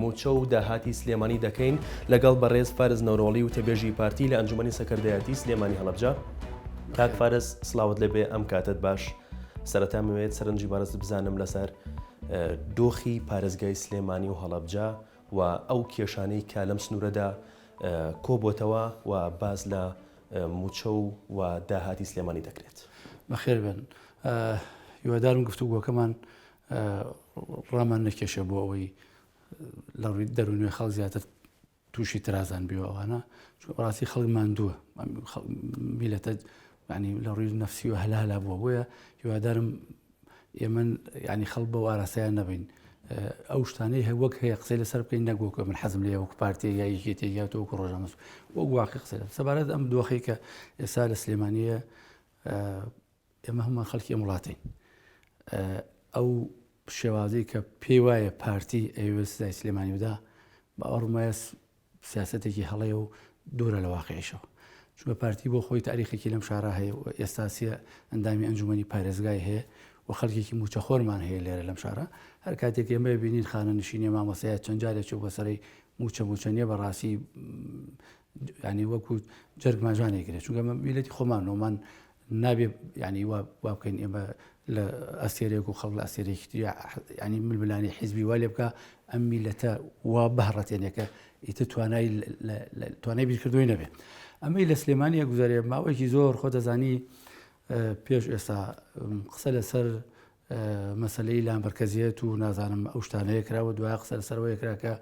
موچە و داهاتی سلێمانی دەکەین لەگەڵ بەڕێز فارس نەورۆڵی وتەبێژی پارتی لە ئەنجومەنی سەکەردایەتی سلێمانی هەڵەبجە کاک فارس سلاوت لێبێ ئەم کاتت باش سەرەتا مەوێت سەرنجی بەڕێزت بزانم لەسەر دۆخی پارێزگای سلێمانی و هەڵەبجە و ئەو کێشانەی کە لەم سنوورەدا کۆبتەوە و باز لە موچە و و داهاتی سلێمانی دەکرێت بەخێر بن هیوادارم گفتوگۆکەمان ڕامان نەکێشێ بۆ ئەوەی لە ڕووی دەروونێ خەڵ زیاتر تووشی ترازان بێەوانە ڕاستی خەڵک ماندووە میلەتە ینی لە ڕووی نفسی و هەلالا بووە بۆیە هیوادارم ئێمە ینی خەڵ بە واراسەیان نەبین ئەو شتانەی هە وەک هەیە قسەی لەسەر بکەین نەگۆکە من حەزم لێ وەک پارتی یا یەکێتی یا تۆ وەک ڕۆژانس وەک واقع قسە سەبارەت ئەم دۆخی کە ئێستا لە سلێمانە ئێمە هەمووان خەڵکی ئەم وڵاتەین ئەو شێوازەی کە پێی وایە پارتی ئەوێ سزای سلێمانی بدا بە ئەڕمایە سیاستێکی هەڵەیە و دوورە لە واقعیشەوە چونکە پارتی بۆ خۆی تاریخێکی لەم شارە هەیە و ئێستاسیە ئەندامی ئەنجومی پارێزگای هەیە و خەڵکێکی موچەخۆرمان هەیە لێرە لەم شارە هەر کاتێک ئێمە بینین خانە نشینە مامەسەیە چەند جارێک چوو بەسەری موچە موچەنیە بەڕاستی ینی وەکو جەرگماژانێک گرێت چونکە میلەتی خۆمان نۆمان نابێ یانی وا وا بکەین ئێمە لە ئەستێرەیەک و خەڵک لە ئەستێرەیەکی تریا ینی ململانی حیزبی وا لێ بکە ئەم میلەتە وا بهڕەتێنێکە ئیتر توانای توانای بیرکردوی نەبێت ئەمەی لە سلێمانە گوزارێ ماوەیەکی زۆر خۆ دەزانی پێش ئێستا قسە لەسەر مەسەلەی لامەرکەزیەت و نازانم ئەو شتانەیە کراوە دوای قسە لەسەرەوەی کرا کە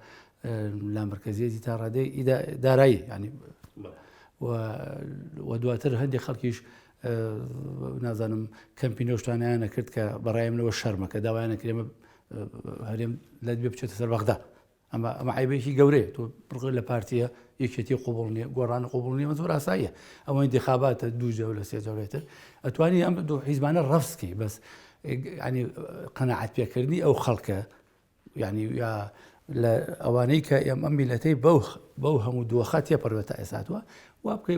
لامەرکەزیەتی تا ڕادەی دارایی ینی و دواتر هەندێک خەڵکیش نازانم کەمپینۆشتانیانە کرد کە بەڕایمنەوە شەرمەکە داوایانە کرێمە هەرێم لە دوێ بچێتە سەر بەغدا ئەمە ئەمە عیبێکی گەورەیە تۆ بڕگە لە پارتیە یەکێتی قوبڵ نیە گۆڕان قوبڵ نیە زۆر ئاساییە ئەوەی دخاباتە دوو جەو لە سێ جەورێتر ئەتوانی ئەم دوو حیزمانە ڕفسکی بەس ینی قەنەعات پێکردنی ئەو خەڵکە ینی یا لە ئەوانەی کە ئێم ئەم میلەتەی بەو بەو هەموو دۆخە تێپەروێتە ئێساتوە وا بکەی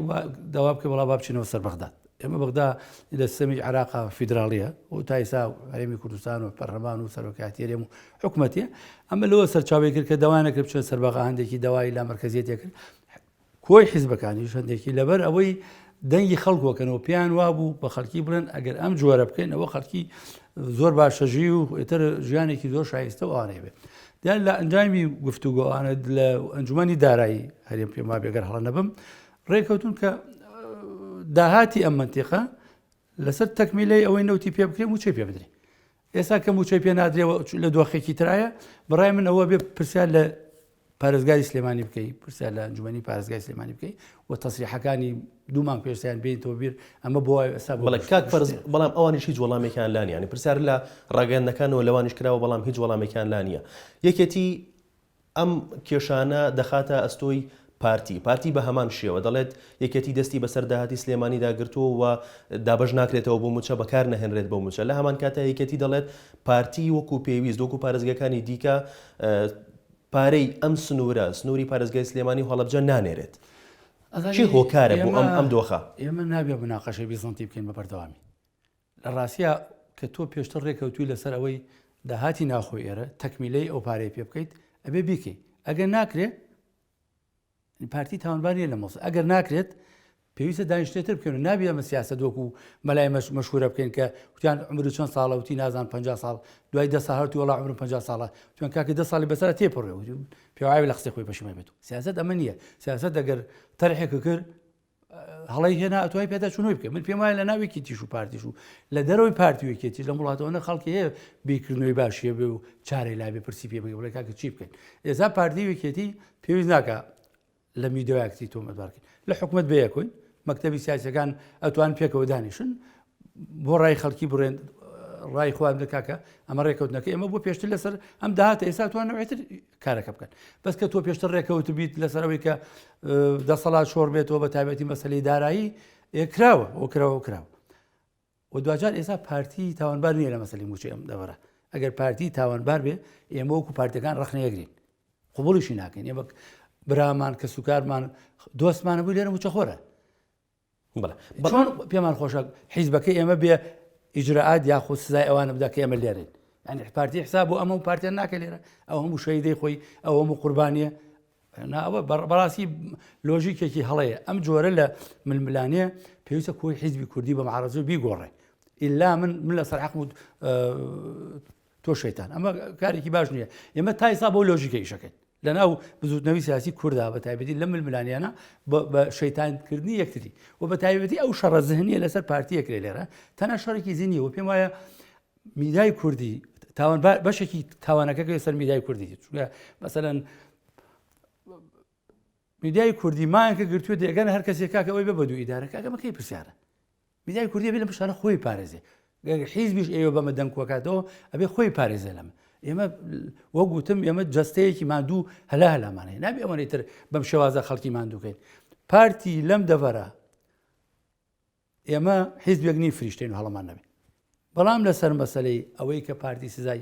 داوا بکە وڵا با بچینەوە سەر بەغداد ئێمە بەغدا لە سیستەمی عێراقا فیدراڵییە و تا ئێستا هەرێمی کوردستان و پەرلەمان و سەرۆکایەتی هەرێم و حکومەتێ ئەمە لەوە سەرچاوی کرد کە داوایانە کرد بچێت سەرباغا هەندێکی داوای لا مەرکەزیەتێ کرد کۆی حیزبەکانی هەندێکی لەبەر ئەوەی دەنگی خەڵکوەکەنەوە پێیان وابوو بە خەڵکی بڵێن ئەگەر ئەم جۆرە بکەین ئەوە خەڵکی زۆر باشەژی و ئێتر ژیانێکی زۆر شایستە و ئاێ بێت دیان لە ئەنجامی گفتوگۆوانە لە ئەنجومی دارایی هەرێم پێما بێگەر هەڵە نەبم ڕێککەوتون کە داهاتی ئەم منتیقە لەسەر تەکمیلەی ئەوەی نەوتی پێ بکرێ موچەی پێ بدرێ ئێستا کە موچەی پێ نادرێەوە لە دۆخێکی ترایە بڕای من ئەوە بێ پرسیار لە پارێزگاری سلێمانی بکەیت پرسیار لە ئەنجومی پارێزگای سلێمانی بکەیت و تەسریحەکانی دوومان پێستیان بین تۆ بیر ئەمە بۆ ئێستا بەڵام ئەوانیش هیچ وەڵامێکیان لانیانی پرسیار لە ڕاگەندەکانەوە لەوانیش کراوە بەڵام هیچ وەڵامێکیان لا نییە یەکێتی ئەم کێشانە دەخاتە ئەستۆی پارتی، پارتی بە هەمان شێوە دەڵێت، یەکێتی دەستی بەسەر داهاتی سلێمانیدا گرتووە و دابەش ناکرێتەوە بۆ مووچە بەکار نەهێنرێت بۆ مووچە، لە هەمانکاتدا یەکێتی دەڵێت، پارتی وەکو پێویست وەکو پارێزگاکانی دیکە پارەی ئەم سنوورە، سنووری پارێزگای سلێمانی و هەڵەبجە نانێرێت. کێ هۆکارە بۆ ئەم دۆخە؟ ئێمە نابێت مناقەشەی بیزەنتی بکەین بە بەردەوامی. لە ڕاستیا کە تۆ پێشتر ڕێکەوتوی لەسەر ئەوەی داهاتی ناوخۆی ئێرە تەکمیلەی ئەو پارەی پێ بکەیت ئەبێ بیکەی ئەگەر ناکرێت پارتی تاوانباریە لە مۆس ئەگەر ناکرێت پێویستە دانیشتێتر بکەن و نابێ ئەمە سیاسە دۆک و مەلای مەش مەشهورە بکەین کە وتیان عمر چەند ساڵە وتی نازان 50 ساڵ دوای دە ساهر تو وڵا عمر 50 ساڵە توان کاکە دە ساڵی بەسەر تێپڕێ پێواوی لە قسەی خۆی پەشمە بێت و سیاست ئەمە نییە سیاست دەگەر تەرحێک کرد هەڵی هێنا ئەتوای پێدا چونەوەی بکە من پێم وایە لە ناوێکی تیش و پارتیش و لە دەرەوەی پارتیوێکێتی لە وڵاتەوەە خەڵکی هەیە بیکردنەوەی باشیە بێ و چارەی لابێ پرسی پێ بگە بڵێ کاکە چی بکەین ئێزا پارتیوێکێتی پێویست ناکە لە میدۆیاکتی تۆمەدارکەین لە حکوومەت بەیەکوین مەکتتەبی سیاسەکان ئەتوان پێکەوە دانیشن بۆ ڕای خەڵکی بڕێن ڕای خۆیان دەکاکە ئەمە ڕێکەوتنەکە ئێمە بۆ پێشتر لەسەر ئەم داهاتە ئێستا توانەوەێتر کارەکە بکەن بەس کە تۆ پێشتر ڕێکەوت بیت لەسەر ئەوەی کە دەسەڵات شۆڕ بێتەوە بە تابەتی مەسلی دارایی کراوە ئەو کراوە کراوە و دوجار ئێستا پارتی تاوانبار نیە لە مەسلی موچە ئەم دەبەرە ئەگەر پارتی تاوانبار بێ ئێمە وەکو پارتەکان ڕخنەیەگرین قوبڵیشی ناکەین ئێمە برامان کە سوکارمان دۆستمانە بوو لێرە موچەخۆرە بەڵێ بەڵێ پێمان خۆشە حیزبەکەی ئێمە بێ ئیجررات یاخود سزای ئەوانە بدا کە ئێمە لێرین ئەنی پارتی حساب بۆ ئەمە و پارتیان ناکە لێرە ئەو هەموو شەیدەی خۆی ئەو هەموو قوربانیە ناوە بەڕاستی لۆژیکێکی هەڵەیە ئەم جۆرە لە ململانەیە پێویستە کۆی حیزبی کوردی بە معرەزو بیگۆڕێ ئللا من من لە سەر حەقمود تۆ شەیتان ئەمە کارێکی باش نییە ئێمە تایسا بۆ لۆژیکە ئیشەکەین لەناو بزوتنەوی سیاسی کووردا بە تایبەتی لە ململانیانە بە شەیتانکردنی یەکتری و بە تایبەتی ئەو شەڕە زهنیە لەسەر پارتیەکرێ لێرە تەنە شەڕێکی زیینی و پێم وایە میدای کوردی تاوان بەشێکی تاوانەکەکە سەر میدای کوردی چونکە مەسەەن میدیای کوردی مایەکە گرتوێت دەگەن هەر کەسێکاکە ئەوی بە بەدو ئیدارەکەگەمەکەی پرسیارە میدیای کوردی ئەبێ لەم پرسانە خۆی بپارێزێ گەر حیزبیش ئێوە بەمە دەنگ کۆکاتەوە ئەبێ خۆی پارێزێ لەمە ئێمە وەک وتم ئێمە جەستەیەکی مادوو هەلا هەلامانەیە نابێ ئەوەی تر بەم شێوازە خەڵکی مادووکەین پارتی لەم دەڤەرە ئێمە حیزبێک نی فریشتین و هەڵمان نەبێت بەڵام لەسەر مەسلەی ئەوەی کە پارتی سزای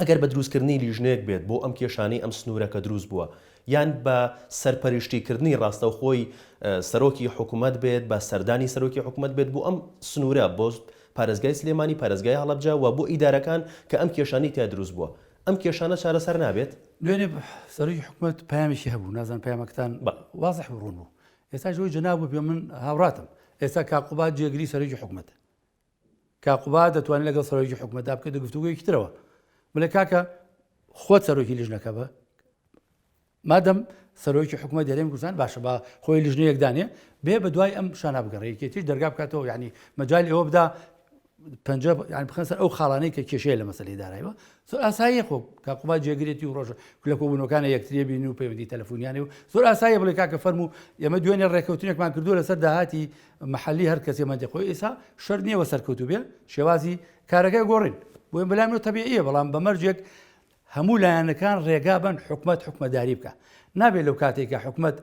ئەگەر بە دروستکردنی لیژنەیەک بێت بۆ ئەم کێشانەی ئەم سنوورە کە دروست بووە، یان بە سەرپەرشتیکردنی ڕاستەوخۆی سەرۆکی حکومەت بێت، بە سەردانی سەرۆکی حکومەت بێت بۆ ئەم سنوورە، بۆ پارێزگای سلێمانی، پارێزگای هەڵەبجە و بۆ ئیدارەکان کە ئەم کێشانەی تیا دروست بووە، ئەم کێشانە چارەسەر نابێت؟ دوێنێ سەرۆکی حکومەت پەیامێکی هەبوو، نازانم پەیامەکەتان وازح بوو، ڕوون بوو، ئێستاش ئەوەی جەنابت بێ من هاوڕاتم، ئێستا کاک قوباد جێگری سەرۆکی حکومەتە، کاک قوباد دەتوانێت لەگەڵ سەرۆکی حکومەتدا بکەیت و گفتوگویەکی ترەوە بڵێ کاکە خۆت سەرۆکی لیژنەکە بە مادەم سەرۆکی حکومە دەرێن گوزان باشە بە خۆی لیژنەیەکدانێ بێ بە دوای ئەم شانە بگەڕێکێتیش دەرگا بکاتەوە ینی مەجای ئەوە بدا پنج بخن سەر ئەو خاڵانەی کە کێشەیە لە مەسلی دارایەوە زۆر ئاساییە خۆ کاقوبا جێگرێتی و ڕۆژە لە کۆبوونەکانە یەکتریە بین و پەیوەندی تەلەفۆنیانێ و زۆر ئاساییە بڵێ کاکە فەرمو ئێمە دوێنێ ڕێککەوتنێکمان کردو لەسەر داهاتی محلی هەر کەسێ مەندێ خۆی ئیسا شەر نییە وە سەرکەوتو بێ شێوازی کارەکە گۆڕین بۆیم بەلای منۆ تەبیعە بەڵام بە مەرجێک هەموو لایەنەکان ڕێگا بن حکومت حکومەداری بکە نابێت لەو کاتێکە حکومت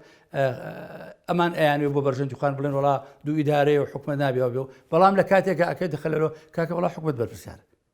ئەمان ئەیانێ بۆ بەرژەندوخان بڵێن وڵا دوو ئیدارەیە و حکومە نابێەوە بێ و بەڵام لە کاتێکە ئەکە دخلەوە کاکە وڵا حکومت بەرپسیار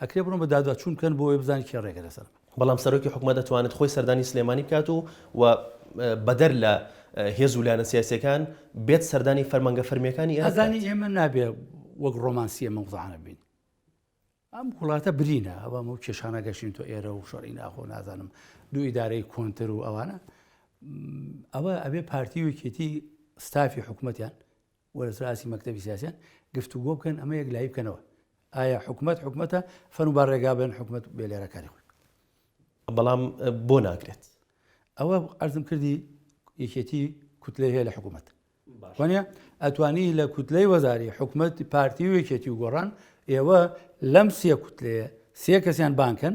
ئەکرێ بڕۆن بە دادوەچوون بکەن بۆ ئەوەی بزانن کێ ڕێگە لەسەر بکا. بەڵام سەرۆکی حکومەت ئەتوانێت خۆی سەردانی سلێمانی بکات و و بەدەر لە هێز و لایەنە سیاسیەکان بێت سەردانی فەرمانگە فەرمیەکانی ئێرە بکات. ئەزانی ئێمە نابێ وەک ڕۆمانسی ئەمە وزعانە بین. ئەم وڵاتە برینە ئەوە ئەو کێشانە گەشتین تۆ ئێرە و شەڕی ناخۆ نازانم دوو ئیدارەی کۆنتر و ئەوانە ئەوە ئەبێ پارتی وکێتی ستافی حکوومەتیان و لەسەر ئاستی مەکتەبی سیاسیان گفتوگۆ بکەن ئەمە یەک لایی بکەنەوە ئایا حکومت حکومەتە فەن و با ڕێگا بن حکومت بێ لێرە کاری خۆی بەڵام بۆ ناکرێت ئەوە ئەرزم کردی یەکێتی کوتلە هەیە لە حکوومەت وانە ئەتوانی لە کوتلەی وەزاری حکوومەت پارتی و یەکێتی و گۆڕان ئێوە لەم سیە کوتلەیە سێ کەسیان بانکەن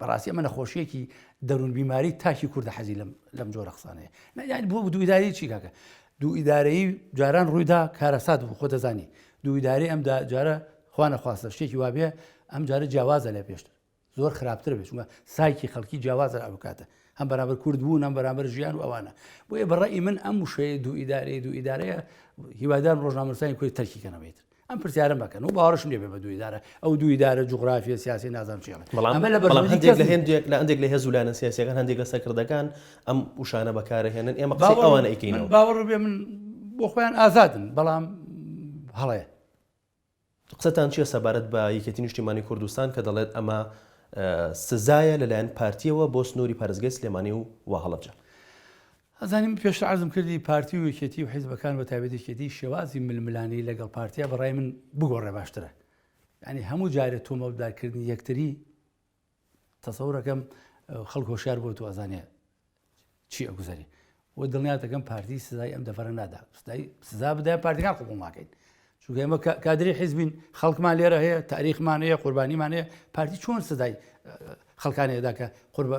بەڕاستی ئەمە نەخۆشیەکی دەرون بیماری تاکی کوردە حەزی لەم لەم جۆرە قسانەیە نەیان بۆ دوویداری چی کاکە دوو ئیدارەی جاران ڕوویدا کارەسات بوو خۆ دەزانی دوو ئیداری ئەمدا جارە خوانە خواستە شتێکی وابێ ئەم جارە جیاوازە لە پێشتر زۆر خراپتر بێت چونکە سایکی خەڵکی جیاوازە ئەو کاتە هەم بەرامبەر کورد بوو نەم بەرامبەر ژیان و ئەوانە بۆیە بەڕی من ئەم وشەیە دوو ئیدارەیە دوو ئیدارەیە هیوادار ڕۆژنامەسانی کوی تەرکیکەنەوەیتر ئەم پرسیارەم مەکەن و باوەڕشم لێ بێ بە دوو ئیدارە، ئەو دوو ئیدارە جوغرافییە سیاسییە نازانم چی ئەڵێ. بەڵام ئەمە لە بەرژوەندی کەس نییە. بەڵام هەندێک لە هێندێک لە هەندێک لە هێز و لایەنە سیاسییەکان، هەندێک لە سەرکردەکان ئەم وشانە بەکار ئەهێنن، ئێمە قسەی ئەوانە ئەیکەینەوە. من باوەڕ بێ من بۆ خۆیان ئازادن، بەڵام هەڵەیە. قسەتان چییە سەبارەت بە یەکێتی نیشتیمانی کوردستان کە دەڵێت ئەمە سزایە لەلایەن پارتییەوە بۆ سنووری پارێزگای سلێمانی و و هەڵەبجە؟ ئەزانم پێشتر عەرزم کردی پارتی و یەکێتی و حیزبەکان بە تایبەت یەکێتی شێوازی ململانێی لەگەڵ پارتیا بەڕای من بگۆڕێ باشترە ینی هەموو جارێ تۆمەتدارکردنی یەکتری تەسەورەکەم خەڵک هۆشار بۆ تو ئەزانێ چی ئەگوزەری و دڵنیاتەکەم پارتی سزای ئەم دەفرە نادا سزا بدای پارتیکان قوبڵ ناکەین چونکە ئێمە کادری حیزبین خەڵکمان لێرە هەیە تاریخمان هەیە قوربانیمان هەیە پارتی چۆن سزای خەڵکانێدا کە قوربە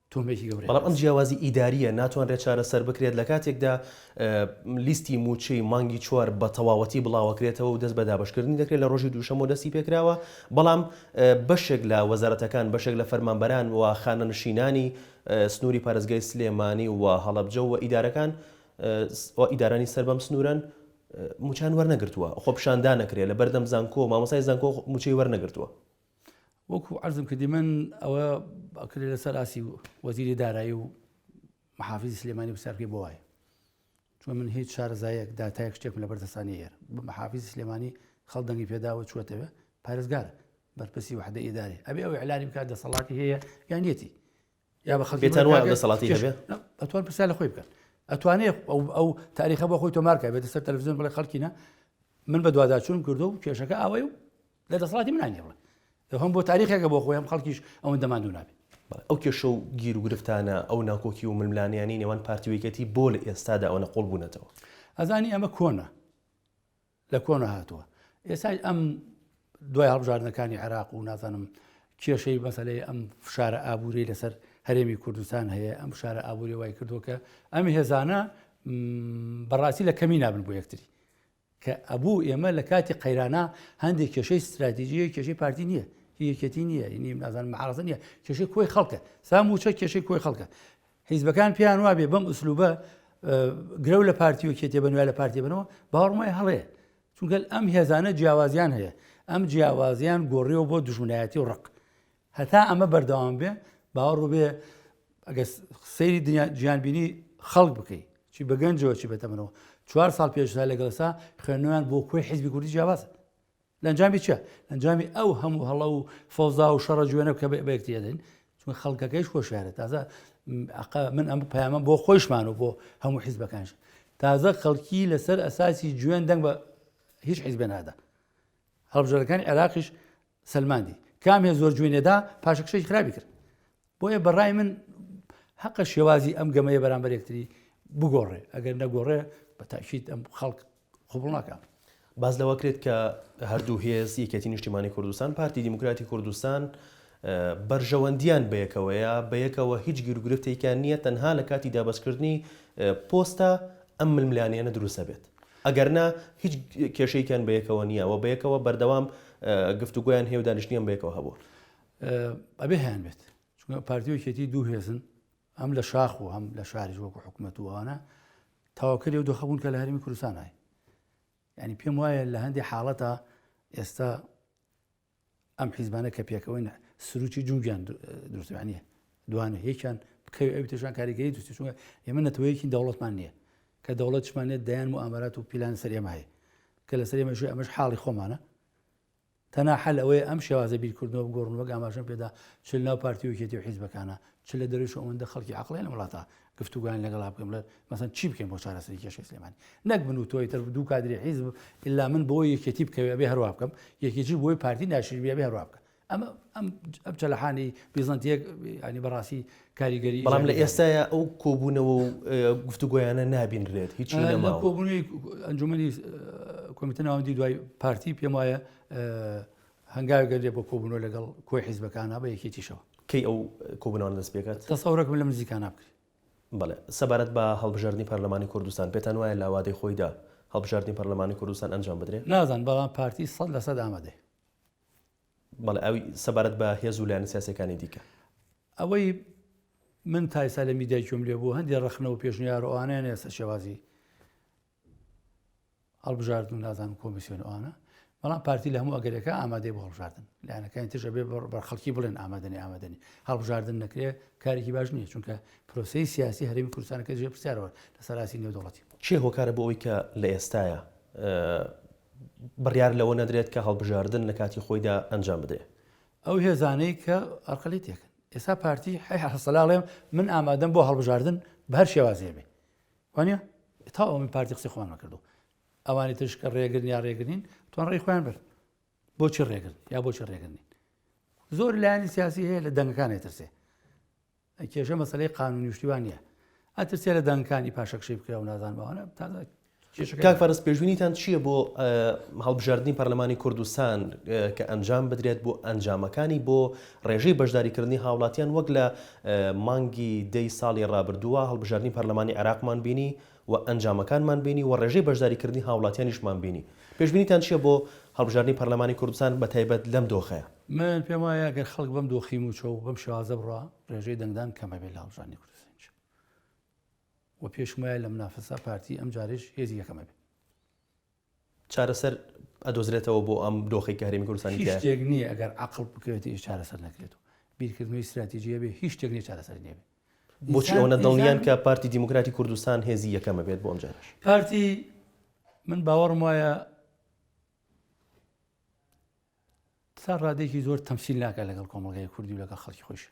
تۆمێکی گەورەیە. بەڵام ئەم جیاوازی ئیدارییە ناتوانرێت چارەسەر بکرێت لە کاتێکدا لیستی مووچەی مانگی چوار بە تەواوەتی بڵاوەکرێتەوە و دەست بە دابەشکردنی دەکرێت لە ڕۆژی دووشەممەوە دەستی پێکراوە بەڵام بەشێک لە وەزارەتەکان بەشێک لە فەرمانبەران و خانەنشینانی سنووری پارێزگای سلێمانی و هەڵەبجە و ئیدارەکان و ئیدارانی سەر بەم سنوورەن موچان وەرنەگرتووە خۆپشاندانەکرێت لە بەردەم زانکۆ مامۆسای زانکۆ موچەی وەرنەگرتووە وەکو عرزم کردی من ئەوە کرێ لەسەر ئاسی وەزیری دارایی و محافزی سلێمانی بسیارکەی بۆ وایە چون من هیچ شارزایەک داتایەک شتێکم لە بەردەستانی هێر بە محافزی سلێمانی خەڵدەنگی پێداوە چوەتەوە پارێزگار بەرپرسی وحدە ئیداری ئەبێ ئەو علانی بکات دەسەڵاتی هەیە یانەتی یا بە خەڵکی پێتان وایە دەسەڵاتی کێش- هەبێ؟ نا، ئەتوان پرسیار لە خۆی بکەن ئەتوانێت ئەو ئەو تاریخە بۆ خۆی تۆمارکە بێتە سەر تەلەڤزیۆن بڵێ خەڵکینە من بە دوواداچوون کردو و کێشەکە ئاوای و لە دەسەڵاتی منانی بڵێ هەم بۆ تاریخێکە بۆ خۆی هەم خەڵکیش ئەوەن دەماندو نابێت بەڵێ، ئەو کێشە و گیر و گرفتانە ئەو ناکۆکی و ململانیانی نێوان پارتی و یەکێتی بۆ لە ئێستادا ئەوەنە قوڵ بوونەتەوە ئەزانی ئەمە کۆنە لە کۆنە هاتووە ئێستای ئەم دوای هەڵبژاردنەکانی عێراق و نازانم کێشەی مەسلەی ئەم فشارە ئابووری لەسەر هەرێمی کوردستان هەیە ئەم فشارە ئابووری وای کردووە کە ئەم هێزانە بەڕاستی لە کەمی نابن بۆ یەکتری کە ئەبوو ئێمە لە کاتی قەیرانە هەندێک کێشەی استراتیژیە کێشەی پارتی نییە یەکێتی نییە نیم نازان مەعاازە نیە کێشەی کۆی خەڵکە سام وچە کێشەی کۆی خەڵکە حیزبەکان پێیان وابێ بەم ئوسلوبە گرەو لە پارتی و کێتێ بەنوێ لە پارتی بنەوە باوەڕم وایە هەڵەیە چونگەل ئەم هێزانە جیاوازیان هەیە ئەم جیاوازیان گۆڕیەوە بۆ دژمنایەتی و ڕق هەتا ئەمە بەردەوام بێ باوەڕ بێ ئەگە سەیری دنیا گیانبینی خەڵک بکەیت چی بەگەنجەوە چی بەتەمەەوە چوار ساڵ پێشدا لەگەڵسا خوێنەوەیان بۆ کوی حیزبی کوردی جیاواز لەنجامی چیە؟ لەنجامی ئەو هەموو هەڵە و فەوزا و شەڕە جوێنە بکە بەیەکتی دەدەین چون خەڵکەکەیش خۆشیارە تازە من ئەم پەیامە بۆ خۆیشمان و بۆ هەموو حیزبەکانش تازە خەڵکی لەسەر ئەساسی جوێن دەنگ بە هیچ حیزبێ نادا هەڵبژەرەکانی عێراقیش سلماندی کام هێ زۆر جوێنێدا پاشەکشەی خراپی کرد بۆیە بەڕای من هەقە شێوازی ئەم گەمەیە بەرامبەر یەکتری بگۆڕێ ئەگەر نەگۆڕێ بە تاکییت ئەم خەڵک قوبڵناکە باز لەوە کرێت کە هەردوو هێز یەکێتی نیشتیمانی کوردستان پارتی دیموکراتی کوردستان بەرژەوەندیان بەیەکەوەیە بەیەکەوە هیچ گیرگرفتێکیان نییە تەنها لە کاتی دابەستکردنی پۆستە ئەم ململانیانە دروستە بێت ئەگەرنا هیچ کێشەیەکیان بەیەکەوە نییە و بەیەکەوە بەردەوام گفتوگویان هێو دانیشتنیان بەیەکەوە هەبوو ئەبێ هەیان بێت چونکە پارتیۆکێتی دوو هێزن ئەم لە شاخ و هەم لە شاریش وەکو حکوومەت وانە تاواکەری و دۆخەبوون کە لە هەرمی کوردستانای ینی پێم وایە لە هەندی حاڵەتە ئێستا ئەم حیزبانە کە پێکەوەی سروکی جوگیان دروستوانە دوانە یەکیان بکەوی ئەو تێشان کاریگەری دوستی چونگە ئێمە نەتەوەیەکی دەوڵەتمان نییە کە دەوڵەتشمانێت دەیان و ئامارات و پیلان سەرێمای کە لە سەرێمەشی ئەمەش حاڵی خۆمانە تەنها حەل ئەوەیە ئەم شێوازە بیرکردنەوە بگۆڕن وەک ئاماژەم پێدا چ لەناو پارتی و یەکێتی و حیزبەکانە چ لە دەرویش ئەوەندە خەڵکی عەقڵیان لەم وڵاتە گفتوگۆیان لەگەڵا بکەم لە مەسەن چی بکەین بۆ چارەسەری کێشەی سلێمانی نەک من و تۆی تر دوو کادری حیزب ئللا من بۆ یەکێتی بکەوێ بێ هەروە بکەم یەکێکی بۆی پارتی ناشربیە بێ هەروە بکە ئەمە ئەم چەلەحانی بیزانتیەک ینی بەڕاستی کاریگەری بەڵام لە ئێستایا ئەو کۆبوونەوە و گفتوگۆیانە نابینرێت هیچ کۆبوونی ئەنجومی کۆمیتە ناوەندی دوای پارتی پێم وایە هەنگاوگەر لێ بۆ کۆبوونەوە لەگەڵ کۆی حیزبەکانە بە یەکێتیشەوە کەی ئەو کۆبوونەوە دەست پێکات تەسەورەکم لە مزیکانە بکرێت بڵێ سەبارەت بە هەڵبژاردننی پەرلەمانی کوردستان پێتان وایە لاوادەی خۆیدا هەڵبژاردننی پەرلەمانی کوردستان ئەنجام بدرێت نازان بەڵام پارتی سەد لە سەد ئامادەێ بەڵێ ئەوی سەبارەت بە هێز و لایەنە سیاسیەکانی دیکە. ئەوەی من تا ئیستا لە میدیای گوێم لێ بوو هەندێ ڕەخنە و پێشنیار و ئەوانەیان ئێستا شێوازی هەڵبژاردن و نازانم کۆمیسیۆن ئەوانە بەڵام پارتی لە هەموو ئەگەرەکە ئامادەی بۆ هەڵبژاردن لایەنەکانی تژە بێ بەر خەڵکی بڵێن ئامادەنی ئامادەنی هەڵبژاردن نەکرێ کارێکی باش نییە چونکە پرۆسی سیاسی هەرمی کوردستانەکە ژێ پرسیارەوە لە سەراسی نێودوڵەتی چێ هۆکارە بۆ ئەوی کە لە ئێستاە بڕیار لەوە نەدرێت کە هەڵبژاردن لە کاتی خۆیدا ئەنجام بدرێت. ئەو هێزانەی کە ئەرقەلیتێکن ئێستا پارتی حەسەلاڵێم من ئامادەم بۆ هەڵبژاردن بە هەر شێوازێ بێ وانە تا ئەو من پارتی قسەی خۆمان نەکردو ئەوانی تشکە ڕێگرن یا ڕێگرین توان ڕێی خۆیان برد بۆچی ڕێگرن یا بۆچی ڕێگرنین زۆر لایانی سیاسی هەیە لە دەنگەکانی ترسێ کێشە مەسلەی قانونی شتیوان نیە ئەترسێ لە دانکانی پاشەکشەی بکرا و نازان بەوانە تا کاک فەرز پێشبینیتان چییە بۆ هەڵبژاردننی پەرلەمانی کوردستان کە ئەنجام بدرێت بۆ ئەنجامەکانی بۆ ڕێژەی بەشداریکردنی هاوڵاتیان وەک لە مانگی دەی ساڵی ڕابردووە هەڵبژاردننی پەرلەمانی عراقمان بینی و ئەنجامەکانمان بینی و ڕێژەی بەشداریکردنی هاوڵاتیانیشمان بینی. پێشبینیتان چییە بۆ هەڵبژاردنی پەرلەمانی کوردستان بە تایبەت لەم دۆخەیا؟ من پێم وایە گەر خەڵک بەم دۆخی مووچە و بەم شێوازە بڕا، ڕێژەی دەنگدان کەم ئەبێت لە هەڵبژاردنی کوردستانیش و پێشم وایە لە منافەسە پارتی ئەمجارەیش هێزی یەکەم ئەبێت. چارەسەر ئەدۆزرێتەوە بۆ ئەم دۆخەی کە هەرێمی کوردستانی تیایە؟ هیچ شتێک نییە ئەگەر عەقڵ بکەوێتەوە چارەسەر نەکرێت و بیرکردنەوەی ستراتیجی هەبێت هیچ شتێک نییە چارەسەری نەبێت. بۆچی ئەوەنە دڵنیان کە پارتی دیموکراتی کوردستان هێزی یەکەم ئەبێت بۆ ئەمجارەش؟ پارتی من باوەڕم وایە تا ڕادەیەکی زۆر تەمسیل ناکات لەگەڵ کۆمەڵگای کوردی و لەگەڵ خەڵکی خۆیشە.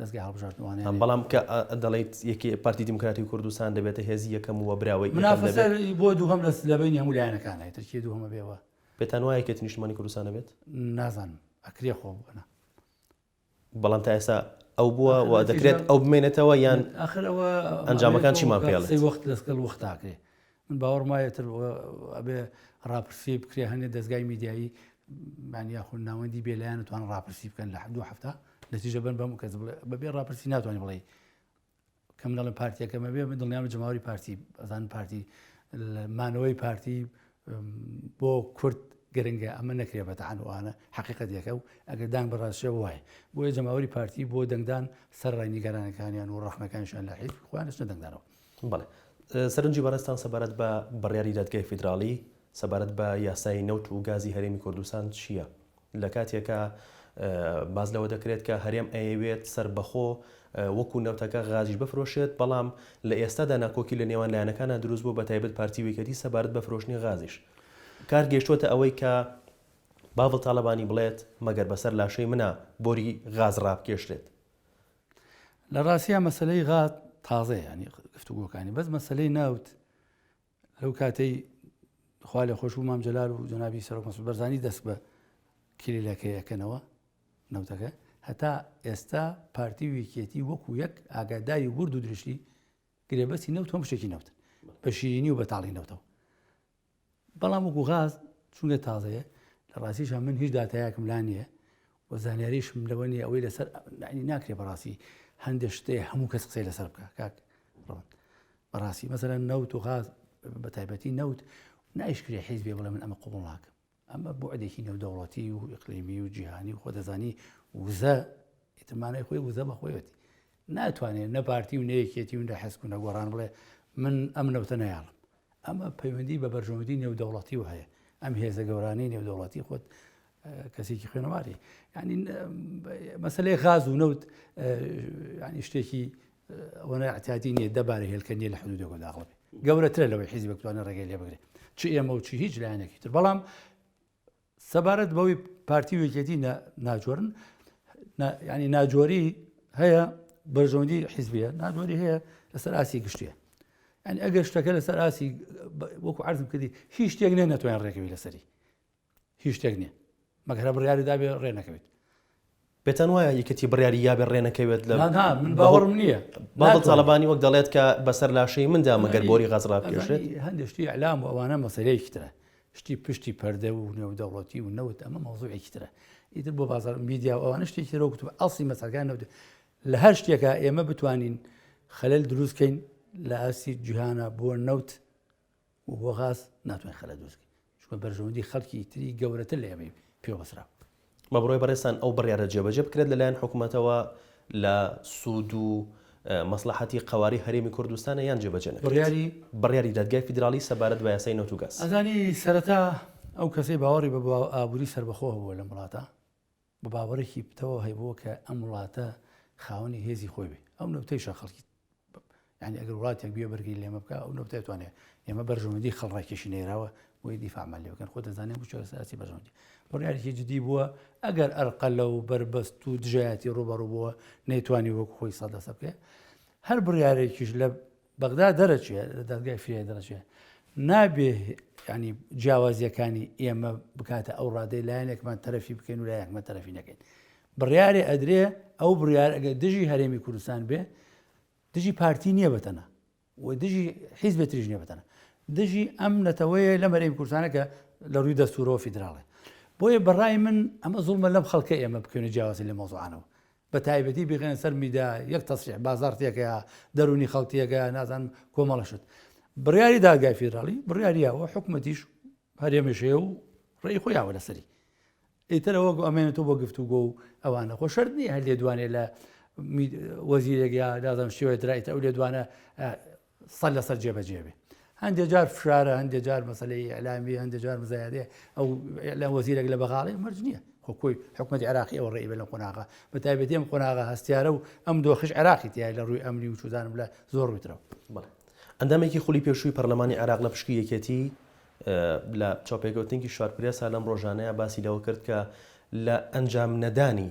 دەزگای هەڵبژاردنوانە یان. بەڵام کە دەڵێیت یەکێ پارتی دیموکراتی کوردستان دەبێتە هێزی یەکەم و وەبراوەی یەکەم دەبێت. منافەسە بۆ دووهەم لە لە بەینی هەموو لایەنەکانە ئیتر کێ دووهەم ئەبێ و. پێتان وایە یەکێتی نیشتمانی کوردستان ئەبێت؟ نازانم ئەکرێ خۆ بۆنا. بەڵام تا ئێستا ئەو بووە و دەکرێت ئەو بمێنێتەوە یان. ئاخر ئەوە. ئەنجامەکان چیمان پێ ئەڵێت؟ قسەی وەخت لەسکەڵ وەخت ئاکرێ. من باوەڕم وایە ئیتر ئەبێ ڕاپرسی بکرێ هەندێ دەزگای میدیایی یان یاخود ناوەندی بێلایەن توان ڕاپرسی بکەن لە دو هەفتە نەتیجە بن بەم کەس بڵێ بەبێ ڕاپرسی ناتوانانی بڵێ کە منەڵم پارتیەکەمە بێ من دڵنیام جماوەری پارتی ئەزان پارتی مانەوەی پارتی بۆ کورد گرنگە ئەمە نەکرێ بەتەحانوانە حقیقەتەکە و ئەگەر دان بەڕاستشە وایە بۆیە جەماوەری پارتی بۆ دەنگدان سەر ڕای نیگەرانەکانیان و ڕخنەکانشان لە حیز خوانش نەدەنگدانەوە بەڵێ. سەرنجی بەڕێزتان سەبارەت بە بڕیاری دادگای فیدراڵی سەبارەت بە یاسای نەوت و گازی هەرێمی کوردستان چییە؟ لە کاتێکا باس لەوە دەکرێت کە هەرێم ئەیەوێت سەربەخۆ وەکو نەوتەکە غازیش بفرۆشێت، بەڵام لە ئێستادا ناکۆکی لە نێوان لایەنەکانا دروست بووە بە تایبەت پارتی و یەکێتی سەبارەت بە فرۆشتنی غازیش. کار گەیشتووەتە ئەوەی کە باڤڵ تاڵەبانی بڵێت مەگەر بەسەر لاشەی منا بۆری غاز ڕابکێشرێت؟ لە ڕاستیا مەسلەی غاز تازەیە ینی گفتوگۆکانی بەس مەسلەی ناوت لەو کاتەی خوا لە خۆش و مام جلال و جنابی سەرۆک مەسود بەرزانی دەست بە کلیلەکەیەکەنەوە نەوتەکە هەتا ئێستا پارتی ویکێتی وەکو یەک ئاگاداری ورد و درشتی گرێبەستی نەوت هەم شتێکی نەوت بە شیرینی و بەتاڵی نەوتەوە بەڵام وەکو غاز چونکە تازەیە لە ڕاستیشە من هیچ داتایەکم لا نییە و زانیاریشم لەوە نیە ئەوەی لەسەر ناکرێ بەڕاستی هەندێک شتێ هەموو کەس قسەی لەسەر بکە کاک ڕۆن بەڕاستی مەسەرە نەوت و غاز بە تایبەتی نەوت نایشکرێ حیزبێ بڵێ من ئەمە قوبڵ ناکەم ئەمە بوعدێکی نێودەوڵەتی و ئیقلیمی و جیهانی و خۆدەزانی وزە ئیتمانای خۆی وزە بە خۆیەتی ناتوانێت نە پارتی و نەیەکێتی و نە حسک و نەگۆڕان بڵێ من ئەم نەوتە نەیاڵم ئەمە پەیوەندی بە بەرژەوەندی نێودەوڵەتی و هەیە ئەم هێزە گەورانەی نێودەوڵەتی خۆت کەسێکی خوێنەواری ینی مەسلەی غاز و نەوت ینی شتێکی ئەوەنە ئەعتیادی نیە دە بارە هێلکە نیە لە حدودێکەوە داخڵ بێ گەورەترە لەوەی حیزبێک بتوانێت ڕێگەی لێ بگرێت چ ئێمە و چی هیچ لایەنێکی تر بەڵام سەبارەت بەوەی پارتی وێکێتی ناجۆرن ینی ناجۆری هەیە بەرژەوندی حیزبیە ناجۆری هەیە لەسەر ئاسی گشتیە ئەن ئەگەر شتەکە لەسەر ئاسی وەکو عرضم کردی هیچ شتێک نێ نەتوانین ڕێکەوی لەسەری هیچ شتێک نیە مەگەر هەر بڕیاری دابێ ڕێ نەکەوێت. پێتان وایە یەکێتی بڕیاری یابێ ڕێ نەکەوێت لە نا نا من باوەڕم نییە بابڵ ناتوانێت. تاڵەبانی وەک دەڵێت کە بەسەر لاشەی مندا مەگەر بۆری غەز ڕابکێشێت ئەزانی هەندێک شتی ئەلام و ئەوانە مەسەلەیەکی ترە شتی پشتی پەردە و نێودەوڵەتی و نەوت ئەمە مەوزوعێکی ترە ئیتر بۆ بازار میدیا و ئەوانە شتێکی ترە وەکوتم ئەڵسی مەسەلەکان نەوت لە هەر شتێکە ئێمە بتوانین خەلەل دروستکەین لە ئاستی جیهانە بۆ نەوت و بۆ غاز ناتوانین خەلەت دروست بکەین چونکە بەرژەوەندی خەڵکی تری گەورەتر لە ئێمەی پێوە بەستراوە. بە بڕوای بەڕێزتان ئەو بڕیارە جێبەجێ بکرێت لە لایەن حکومەتەوە لە سوود و مەسڵەحەتی قەوارەی هەرێمی کوردستانە یان جێبەجێ نەکرێت؟ بڕیاری دادگای فیدراڵی سەبارەت بە یاسای نەوت و گاز. ئەزانی سەرەتا ئەو کەسەی باوەڕی بە ئابووری سەربەخۆ هەبووە لەم وڵاتە، بە باوەڕێکی پتەوە هەبووە کە ئەم وڵاتە خاوەنی هێزی خۆی بێ ئەو نەوتەیشە خەڵکی ینی ئەگەر وڵاتێک گوێ بەرگی لێمە بکە ئەو نەوتێ توانێت ئێمە بەرژەوەندی خەڵڕێکیشی نێراوە بۆی دیفامان لێ بکەن خۆ دەزانێت بچۆساسی بەرژەوەندی بڕیارێکی جدی بووە ئەگەر ئەرقە لە و بەربەست و دژایەتی ڕوبەڕوو بووە نەیتوانی وەک خۆی سەدەسە بکە هەر بڕیارێکیش لە بەغدا دەرەچێ لە دادگای فریای دەرەچێ نابێ ینی جیاوازیەکانی ئێمە بکاتە ئەو ڕادەی لایەنێکمان تەرەفی بکەین و لایەکمە تەرەفی نەکەین بڕیارێ ئەدرێ ئەو بڕیار ئەگە دژی هەرێمی کوردستان بێ دژی پارتی نییە بەتەنە و دژی حیزبە تریژ نیە بەتەنە دژی ئەم نەتەوەیە لە مەرەی کوردستانە کە لە ڕووی دەستورەوە فیدراڵێ بۆیە بەڕای من ئەمە زوڵمە لەم خەڵکە ئێمە بکەێنە جیاوازی لە مۆزوعانەوە بە تایبەتی بیخەنە سەر میدا یەک تەسریح بازاڕ تێکەیا دەرونی خەڵک تێکەیا نازان کۆمەڵە شت بڕیاری دادگای فیدراڵی بڕیاریەوە حکومەتیش هەرێمەشەیە و ڕێی خۆیاوە لەسەری ئیترەوە ئەمێنێت و بۆ گفت و گۆ و ئەوانە خۆ شەر نیە هەر لێ دوانێ لە وەزیرێک یا دادەم شێوەیە درایتە ئەو لێ دوانە سەر لەسەر جێبەجێ بێ هەندێک جار فشارە هەندێک جار مەسلەی ئەلامی هەندێک جار مزایادێ ئەو لە وەزیرێک لە بەغاڵی مەرج نییە خۆ کۆی حکومەت عراقی ئەو ڕێی بە لە قۆناغا بە تایبەتی ئەم قۆناغا هەستیارە و ئەم دۆخش عراقی تای لە ڕووی ئەمنی و چودانم لە زۆر ڕوویترەوە ئەندامێکی خولی پێشووی پەرلەمانی عراق لە پشکی یەکێتی لە چاپێکوتنگی شارپرێسا لەم ڕۆژانەیە باسی لەوە کرد کە لە ئەنجام نەدانی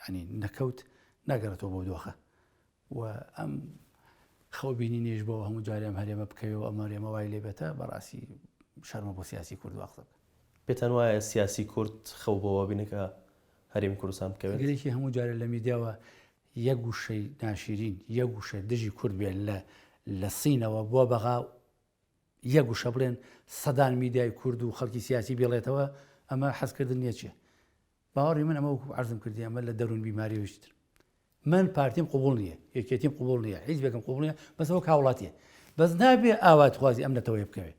یانی نەکەوت ناگەڕێتەوە بۆ دۆخە و ئەم خەو بینی نێژ بۆ هەموو جارێم هەرێمە بکەوێەوە ئەمە رێمە وای لێ بێتە بەڕاستی شەرمە بۆ سیاسی کورد واقسە بکە پێتان وایە سیاسی کورد خەو بۆەوە بینەکە هەرێمی کوردستان بکەوێت گرێکی هەموو جارێ لە میدیاوە یەک گوشەی ناشیرین یەک گوشە دژی کورد بێن لە لە سینەوە بۆ بەغا یەک گوشە بڵێن سەدان میدیای کورد و خەڵکی سیاسی بێڵێتەوە ئەمە حەزکردن نیە چیە باوەڕی من ئەمە وەکو عەرزم کردی ئەمە لە دەروون بیماریەوە هیچتر من پارتیم قوبوڵ نییە یەکێتیم قوبوڵ نییە حیزبێکم قوبوڵ نییە بەس وەک هاوڵاتیە بەس نابێ ئاواتخوازی ئەم نەتەوەی بکەوێت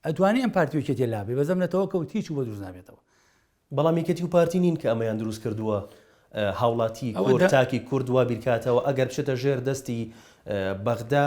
ئەتوانی ئەم پارتی وکێتی لابێ بەزم نەتەوە کەوت هیچ و بە دروست نابێتەوە بەڵام یەکێتی و پارتی نین کە ئەمەیان دروست کردووە هاوڵاتی کورد تاکی کورد وا بیرکاتەوە ئەگەر بچێتە ژێر دەستی بەغدا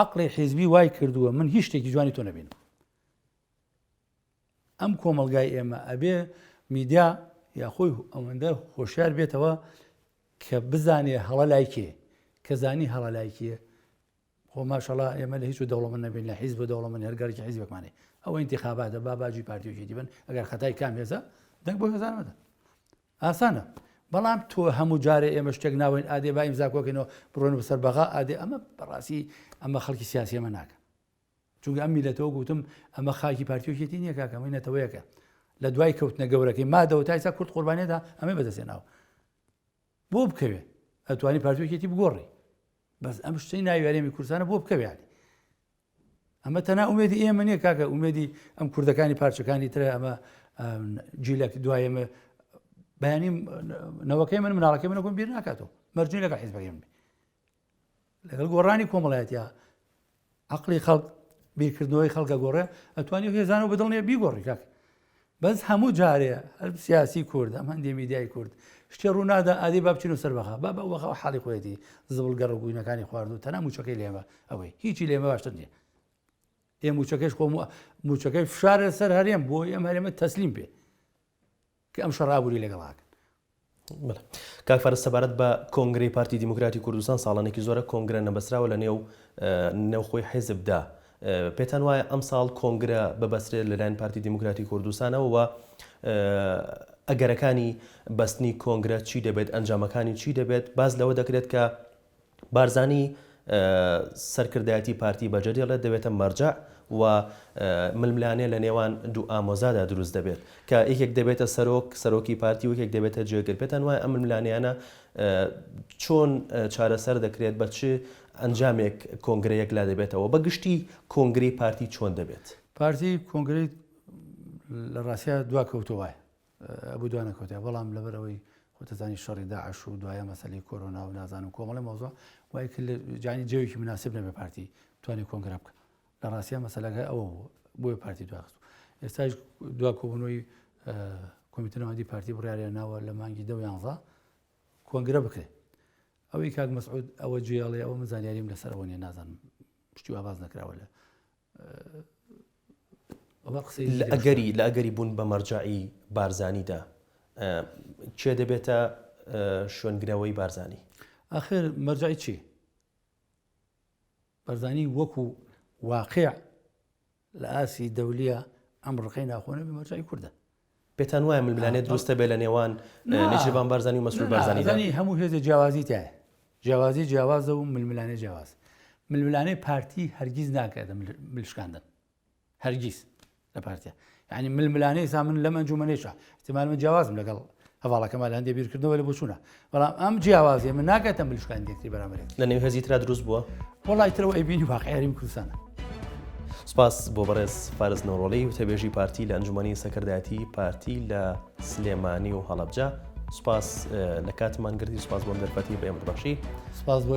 عەقڵی حیزبی وای کردووە من هیچ شتێکی جوانی تۆ نەبینم. ئەم کۆمەلگای ئێمە ئەبێ میدیا یاخۆی ئەوەندە خۆشیار بێتەوە کە بزانێ هەڵە لایکێ کە زانی هەڵە لایکێ خۆ ماشەڵا ئێمە لە هیچ و دەوڵەمە نەبین لە حیز بە دەوڵەمە هەرگەرکی حیزبەکمانێ ئەوە انتخاباتە با باجی پارتیۆکی دیبن ئەگەر خەتای کام هێزە دەنگ بۆ هێزانمەدە ئاسانە بەڵام تۆ هەموو جارێ ئێمە شتێک ناوەین ئادێ با ئیمزا کۆکەینەوە بڕۆن بەسەر بەغا ئادێ ئەمە بەڕاستی ئەمە خەڵکی سیاسی ئەمە ناکەن چونگە ئەم میلەتەوە گوتم ئەمە خاکی پارتیۆکێتی نییە کاکەمەی نەتەوەیەکە لە دوای کەوتنە گەورەکەی مادەوە تایسا کورد قوربانێدا ئەمە بەدەستێناوە بۆ بکەوێ ئەتوانی پارتوکێتی بگۆڕی بەس ئەم شتەی ناویارێمی کورسانە بۆ بکەوێت ئەمە تەنها ئومێدی ئێمە نیە کاکە ئومێدی ئەم کوردەکانی پارچەکانی ترە ئەمە جیلەک دوایمە بەیانی نەوەکەی من مناڵەکەی من نەکۆم بیر ناکاتەوە مەرجی لەگە حیزبەکەی من لەگەڵ گۆڕانی کۆمەڵایەتە عقلی خەڵک بیرکردنەوەی خەڵکە گۆڕێ ئەتوانی هێزانەوە بەدڵنیە بیگۆڕی کاک بەس هەموو جارێ هەر سیاسی کورد ئەم هەندێ میدیای کورد شتێ ڕوونادا ئادی با بچین و سەر بەخە با بەخە حاڵی خۆێتی زبڵ گەڕ و گوینەکانی خوارد و تەنا موچەکەی لێمە ئەوەی هیچی لێمە باشتر نیە ئێ موچەکەش خۆم موچەکەی فشارە سەر هەرێم بۆ ئەم هەرێمە تەسلیم پێ کە ئەم شەڕابووری لەگەڵاکە کاک فارس سەبارەت بە کۆنگرەی پارتی دیموکراتی کوردستان ساڵانێکی زۆرە کۆنگرە نەبەستراوە لە نێو نێوخۆی حیزبدا پێتان وایە ئەم ساڵ کۆنگرە ببەسرێت لەلایەن پارتی دیموکراتی کوردستانەوە و ئەگەرەکانی بەستنی کۆنگرە چی دەبێت ئەنجامەکانی چی دەبێت باز لەوە دەکرێت کە بارزانی سەرکردایەتی پارتی بەجێ دێڵێت، دەبێتە مەرجەع و ململانێ لە نێوان دوو ئامۆزادا دروست دەبێت، کە یەکێک دەبێتە سەرۆک، سەرۆکی پارتی و یەکێک دەبێتە جێگر، پێتان وایە ئەم ململانێیانە چۆن چارەسەر دەکرێت، بە چ ئەنجامێک کۆنگرە یەکلا دەبێتەوە، بە گشتی کۆنگرەی پارتی چۆن دەبێت؟ پارتی کۆنگرەی لە ڕاستیا دواکەوتەوەیە، بوو دوا نەکەوتە بەڵام لەبەر ئەوەی خۆتەزانی شەڕی داعش و دوایە مەسەلی کۆرۆنا و نازان و کۆمەڵی مۆزۆ وای کرد لە جانی جەوێکی مناسب نەبێ پارتی توانی کۆنگرا بکە لە ڕاستە مەسەلەکە ئەوە بوو بۆی پارتی دواخست ئێستاش دوا کۆبوونەوەی کۆمیتنەوەندی پارتی بڕیاریان ناوە لە مانگی دە یانزە کۆنگرە بکرێت ئەوەی کاک مەسعود ئەوە جێڵێ ئەوە من زانیاریم لەسەر ئەوە نیە نازانم پشتی ئاواز نەکراوە لە لە ئەگەری لە ئەگەری بوون بە مەرجەعی بارزانی دا کێ دەبێتە شوێنگرەوەی بارزانی؟ ئاخر مەرجەعی چی؟ بەرزانی وەکو واقع لە ئاسی دەولیە ئەم ڕقەی ناخۆنەبی مەرجای کووردە پێتان وایە ململانێ دروستە بێ لە نێوان نێچیرڤان بارزانی و مەسرور بارزانی دا؟ نا، هەموو هێزێ جیاوازی تایە، جیاوازی جیاوازە و ململانێ جیاوازە. ململانێ پارتی هەرگیز ناکاتە ملشکاندن. هەرگیز لە پارتیا. یعنی ململانێ ئێستا من لەم ئەنجومەنێشا، ئیحتیمال من جیاوازم لەگەڵ هەڤاڵەکەمان لە هەندێ بیرکردنەوە لە بۆچوونە، بەڵام ئەم جیاوازیە من ناکاتە ملشکانی دەکری بەرامەرێت لە نێو هێزی تررا دروست بووە وڵی ترەوە ئەیبینی واقعێریم کوردستانە. سپاس بۆ بەڕێز فارس نەوڕۆڵی وتەبێژی پارتی لە ئەنجومنی سەکردایەتی پارتی لە سلێمانی و هەڵەبجە سپاس لە کاتمان گردی سپاس بۆم دەرفەتی بەێمە بەخشی سپاس بۆ